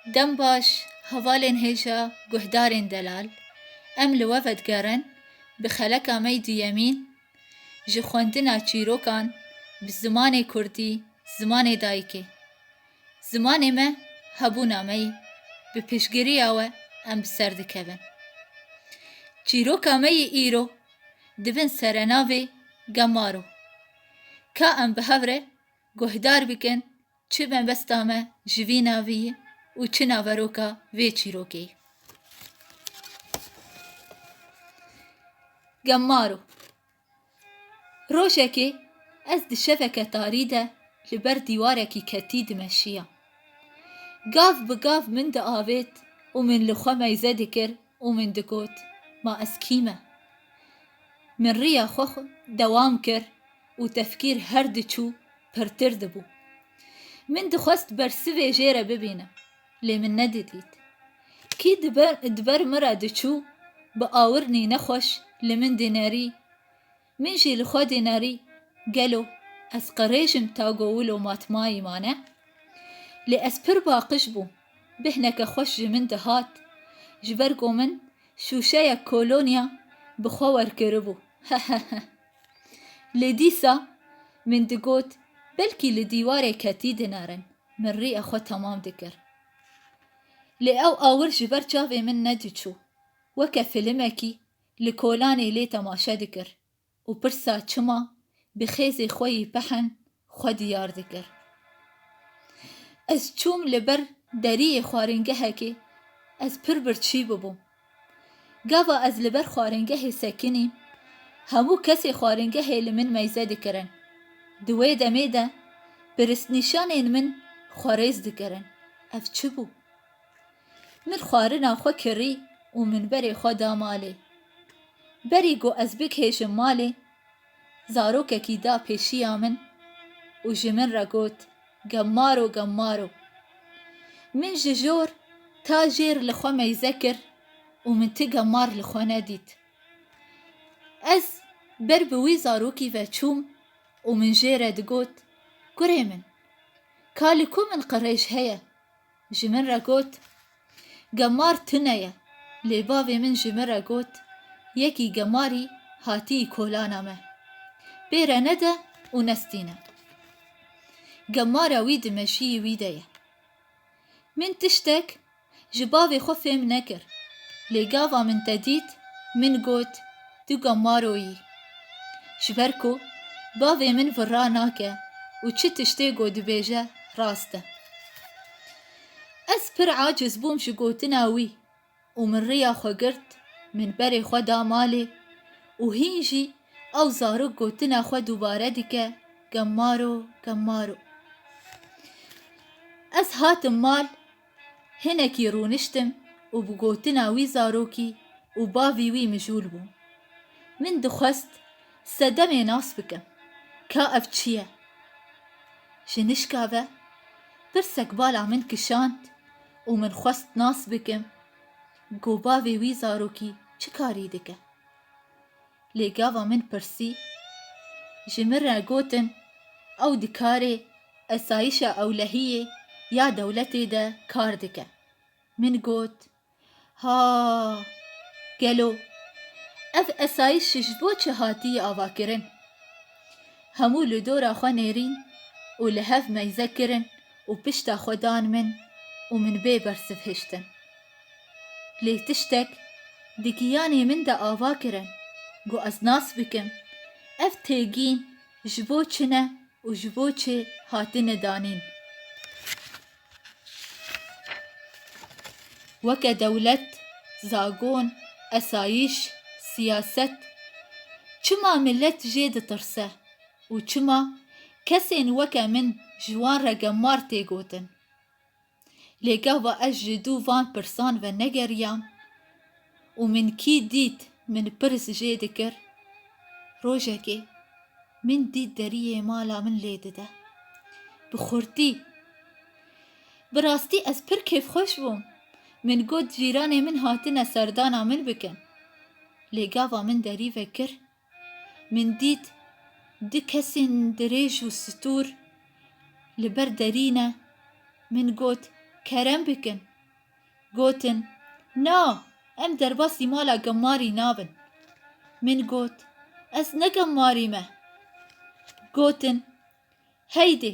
Dem baş hevalên hêja guhdarên delal, em li we ve digerin bi xeleka me yî duyemîn ji xwendina çîrokan bi zimanê kurdî zimanê dayikê. Zimanê me hebûna me yî bi piştgiriya we em bi ser dikevin. Çîroka me yî îro dibin serenavê Gemaro. Ka em bi hev re Guhdar bikin çi mebesta me ji vî navî ye û çi naveroka vê çîrokê ye. Gemaro Rojekê ez di şeveke tarî de li ber dîwarekî ketî dimeşiyam. Gav bi gav min diavêt û min li xwe meyze dikir û min digot, Ma ez kî me? Min riya xwe dewam kir. û tefkîr her diçû pirtir dibû. Min dixwest bersivê jê re bibînim, lê min nedidît. Kî di ber min re diçû, bi awirnî nexweş li min dînerî, min jî li xwe dînerî, gelo ez qirêjim ta go wilo matmayî mane? Lê ez pir baqij bûm, bihneke xweş ji min dihat, ji ber ku min şûşeyek kolonya bi xwe werkiribû. Heheheh. Lê dîsa min digot belkî li dîwarê ketî dinarin, min rîya xwe temam dikir. Lê ew awir ji ber çavê min nediçû, weke filimekî li kolanê lê temaşe dikir û pirsa çima bi xêzê xwe yî pihen xwe diyar dikir. Ez çûm li ber deriyê xwarîngehekê, ez pir birçî bûbûm. Gava ez li ber xwarîngehê sekinîm, hemû kesê xwarîngehê li min meyze dikirin. Di wê demê de piristnîşanên min xwe rêz dikirin, ev çi bû? Min xwarina xwe kirî û minberê xwe da malê. Berî ku ez bigihêjim malê, Zarokekî da pêşiya min û ji min re got, Gemmaro, gemmaro. Min ji jor ta jêr li xwe meyze kir û min ti gemmar li xwe nedît. Ez ber bi wî zarokî ve çûm û min jê re digot, Kurê min, ka li ku min qirêj heye, Ji min re got, Gemar tune ye. Lê bavê min ji min re got, Yekî gemarî hatiyî kolana me. Pê re nede û nestîne. Gemara wî di meşiyê wî de ye. Min tiştek ji bavê xwe fêm nekir. Lê gava min te dît, min got, Tu ka maro yî. Ji ber ku bavê min virra nake û çi tiştê ku dibêje rast e. Ez pir aciz bûm ji gotina wî û min riya xwe girt, min berê xwe da malê û hîn jî ew zarok gotina xwe dubare dike, Ka maro, ka maro. Ez hatim mal. Hinekî rûniştim û bi gotina wî zarokî û bavî wî mijûl bûm. Min dixwest sedemê nas bikim ka ev çi ye. Ji nişka ve pirsek bala min kişand û min xwest nas bikim ku bavê wî zarokî çi karî dike. Lê gava min pirsî, ji min re gotin ew di karê esayîşa ewlehiyê ya dewletê de kar dike. Min got, Ha, gelo ev esayîş ji bo çi hatiye avakirin? Hemû li dora xwe nêrîn û li hev meyze kirin û pişta xwe dan min û min bê bersivhiştin. Lê tiştek di giyanê min de ava kirin ku ez nas bikim ev têgîn ji bo çi ne û ji bo çi hatine danîn. Weke dewlet, zagon, esayîş, siyaset çima milet jê ditirse û çima kesên weke min ji wan re gemar tê gotin? Lê gava ez ji dû van pirsan ve negeriyam û min kî dît min pirs jê dikir. Rojekê min dît deriyê mala min lê dide. Bi xurtî. Bi rastî ez pir kêfxweş bûm. Min got cîranê min hatine serdana min bikin. Lê gava min derî ve kir Min dît du kesên dirêj û stûr li ber derî ne. Min got, Kerem bikin. Gotin, Na, em derbasî mala Gemmarî nabin. Min got, Ez ne Gemmarî me. Gotin, Heydê,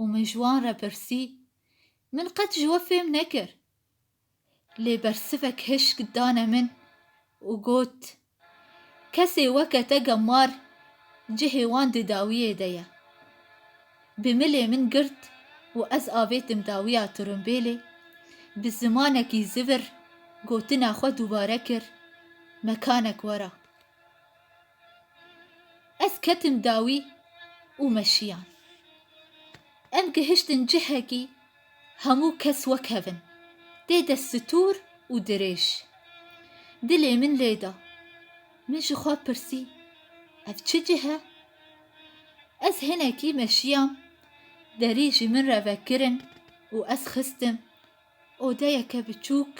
Û min ji wan re pirsî, Min qet ji we fêm nekir. Lê bersivek hişk dane min û got, Kesê weke te gemar cihê wan di dawiyê de ye. Bi milê min girt û ez avêtim dawiya tirimbêlê, bi zimanekî zivir gotina xwe dubare kir, Mekanek wera. Ez ketim dawî û me şiyan. Em gihiştin cihekî hemû kes wek hev in. Tê de stûr û dirêj. Dilê min lê da. Min ji xwe pirsî, Ev çi cih e? Ez hinekî me şiyam, derî ji min re vekirin û ez xistim. Odeyeke biçûk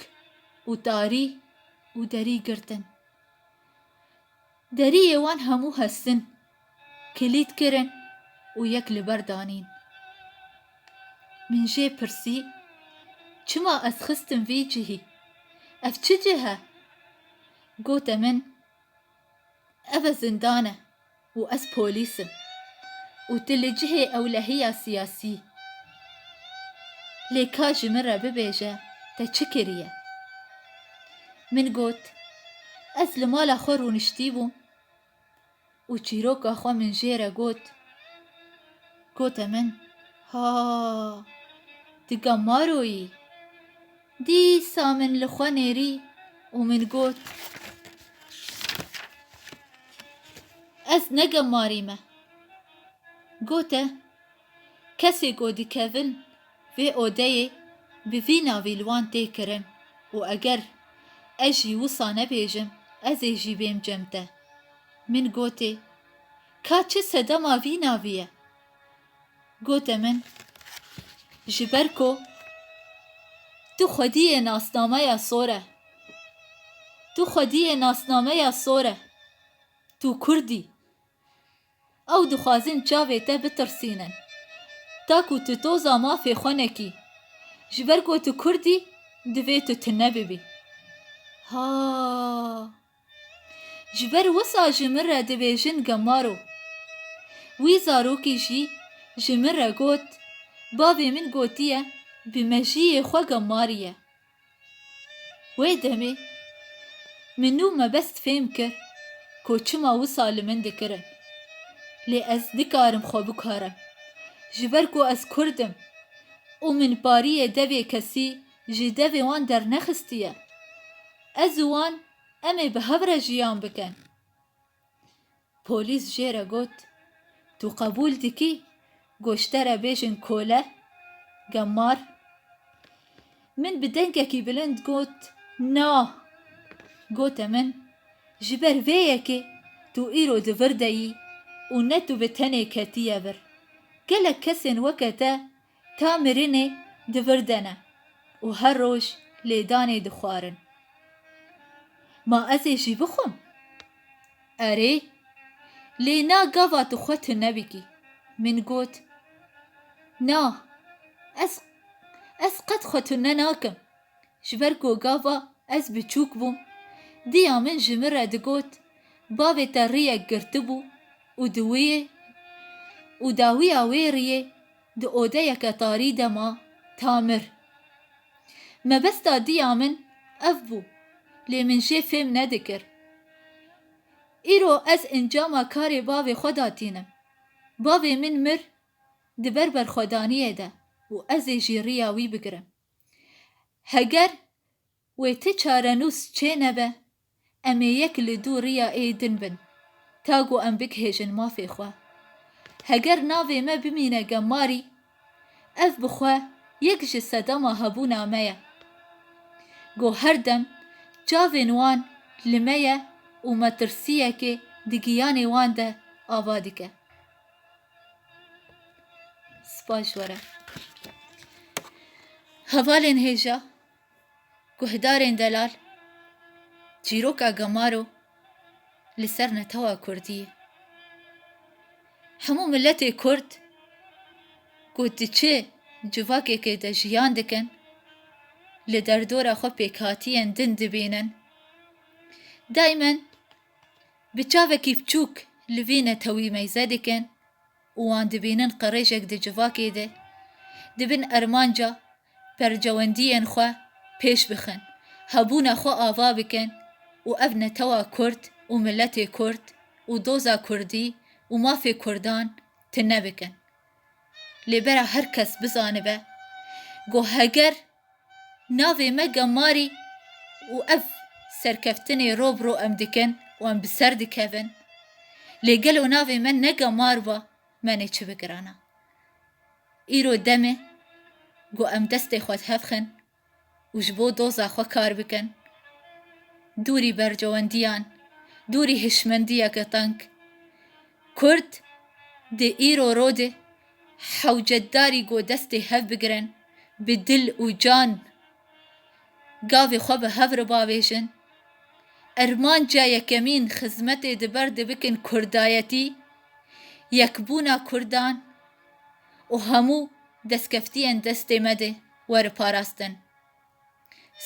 û tarî û derî girtin. Deriyê wan hemû hestin kilît kirin û yek li ber danîn. Min jê pirsî, Çima ez xistim vî cihî? Ev çi cih e? Gote min, Ev e zindan e. Û ez polîs im. Û tu li cihê ewlehiya siyasî. Lê ka ji min re bibêje te çi kiriye? Min got, Ez li mala xwe rûniştîbûm û çîroka xwe min jê re got. Gote min, Ha! Tu gamaroyî? Dîsa min li xwe nêrî û min got, Ez ne gemarî me. Gote, Kesê ku dikevin vê odeyê bi vî navî li wan tê kirin û eger ez jî wisa nebêjim ez ê jî bêm cem te. Min gotê, Ka çi sedema vî navî ye? Gote min, Ji ber ku tu xwedî yê nasnameya sor e. Tu xwedî yê nasnameya sor e. Tu kurd î. Ew dixwazin çavê te bitirsînin. Ta ku tu toza mafê xwe nekî. Ji ber ku tu kurd î, divê tu tune bibî. Ha! Ji ber wisa ji min re dibêjin Gemaro. Wî zarokî jî ji min re got, Bavê min gotiye bi mejiyê xwe gemariye. Wê demê min û mebest fêm kir ku çima wisa li min dikirin. Lê ez dikarim xwe bikarim. Ji ber ku ez kurd im û min pariyê devê kesî jî devê wan dernexistiye. Ez û wan em ê bi hev re jiyan bikin. Polîs jê re got, Tu qebûl dikî goşte re bêjin kole, gemar? Min bi dengekî bilind got, Na! Gote min, Ji ber vê yekê tu îro di vir de yî û ne tu bi tenê ketiye vir. Gelek kesên weke te Ta mirinê divirdene û her roj lêdanê dixwarin. Ma ez ê jî bixwim? Erê, lê na gava tu xwe tu nebikî. Min got, Na, ez ez qet xwe tu ne nakim. Ji ber ku gava ez biçûk bûm, diya min ji min re digot, Bavê te riyek girtibû û di wê û dawiya wê riyê Di odeyeke tarî de ma tamir. Mebesta diya min ev bû lê min jê fêm nedikir. Îro ez encama karê bavê xwe da tînim. Bavê min mir di ber berxwedaniyê de û ez ê jî riya wî bigirim. Heger Wê ti çarenûs çê nebe, em ê yek li dû riya ê din bin, ta ku em bigihêjin mafê xwe. Heger navê me bimîne Gemmarî, ev bi xwe yek ji sedema hebûna me ye. Ku her dem çavên wan li me ye û metirsiyekê di giyanê wan de ava dike. Spas ji we re. Hevalên hêja. Guhdarên delal, çîroka gemaro li ser netewa kurdî ye. Hemû miletê kurd ku di çi civakekê de jiyan dikin, li derdora xwe pêkhatiyên din dibînin. Daymen bi çavekî piçûk li vî netewî meyze dikin û wan dibînin qirêjek di civakê de dibin ermanca percewendiyên xwe pêş bixin, hebûna xwe ava bikin û ev netewa kurd û miletê kurd û doza kurdî û mafê kurdan tune bikin. Lê bera her kes bizanibe ku heger Navê me Gemarî û ev serkeftinê ro bi ro em dikin û em bi ser dikevin. Lê gelo navê me ne Gemar ba, me nê çi bigirana. Îro dem e ku em destê xwe dihevxin û ji bo doza xwe kar bikin. Dûrî bercewendiyan, dûrî hişmendiyeke teng. Kurd di îro ro de Hewcedarî got destê hev bigirin, bi dil û can gavê xwe bi hev re bavêjin. Irmanca yekemîn xizmetê di ber de bikin kurdayetî, yekbûna kurdan û hemû destkeftiyên destê me de were parastin.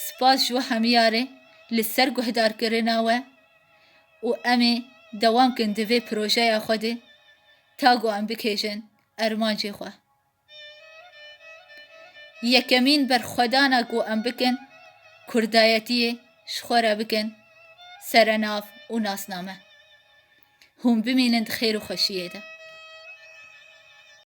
Spas ji we hemiyarê li ser guhdarkirina we û em ê dewam bikin di vê projeya xwe de ta ku em bikêjin armancê xwe. Yekemîn berxwedana ku em bikin kurdayetiyê ji xwe re bikin serenav û nasname. Hûn bimînin di xêr û xweşiyê de.